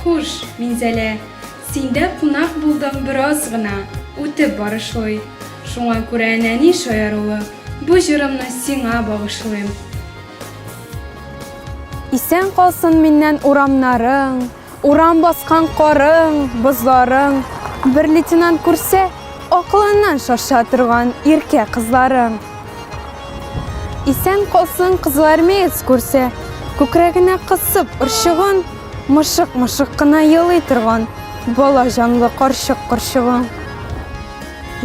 Хуш, Минзәлә, синдә кунак булдым бераз гына, үтеп барышлый. Шуңа күрә нәни шаярулы бу җырымны сиңа багышлыйм. Исән калсын миннән урамнарың, Урам баскан карың, бозларың, Бер лейтенант күрсә, акылыннан шаша торган иркә кызларың. Исән калсын кызылармеец күрсә, күкрәгенә кысып орчыгын, мышык-мышык кына елый торган бала җанлы карчык корчыгың.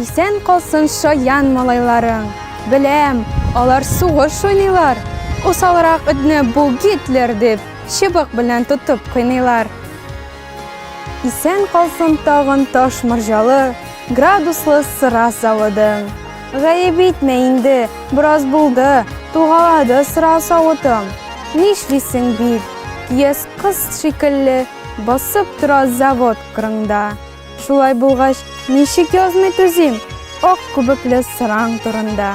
Исән калсын шаян малайларың. Беләм, алар сугыш уйныйлар. Усалрак этне бу Гитлер дип, чыбык белән тотып кыйныйлар. Исән калсын тагын таш морҗалы, градуслы сыра заводың. Гаеп итмә инде, бераз булды, тугалады сыра савытым. Нишлисең бит, кияс кыз шикелле басып тора завод кырыңда. Шулай булгач, ничек язмый түзим ак күбекле сыраң турында.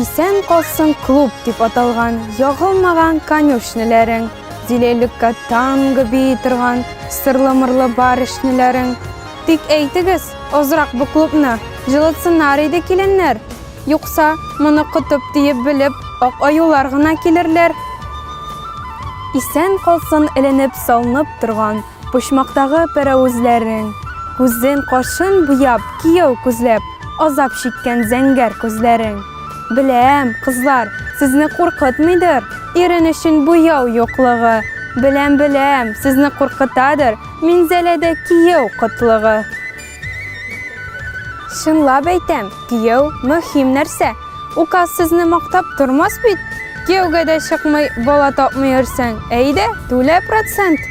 Исән калсын клуб дип аталган ягылмаган конюшняләрең, диләлеккә танго бии торган сырлы-мырлы барышняләрең. Тик әйтегез, азрак бу клубны җылытсыннар иде киленнәр, юкса, моны котып диеп белеп, ак аюлар гына килерләр. Исән калсын эленеп-салынып торган Почмактагы пәрәвезләрен, Күзен, кашын буяп, Кияү күзләп, Азап чиккән зәңгәр күзләрен. Беләм, кызлар, сезне куркытмыйдыр Ирен өчен буяу юклыгы. Беләм, беләм, сезне куркытадыр Минзәләдә кияү кытлыгы. Чынлап әйтәм, кияү мөһим нәрсә. Указ сезне мактап тормас бит. Кияүгә дә чыкмый, бала тапмый йөрсәң, әйдә, түлә процент.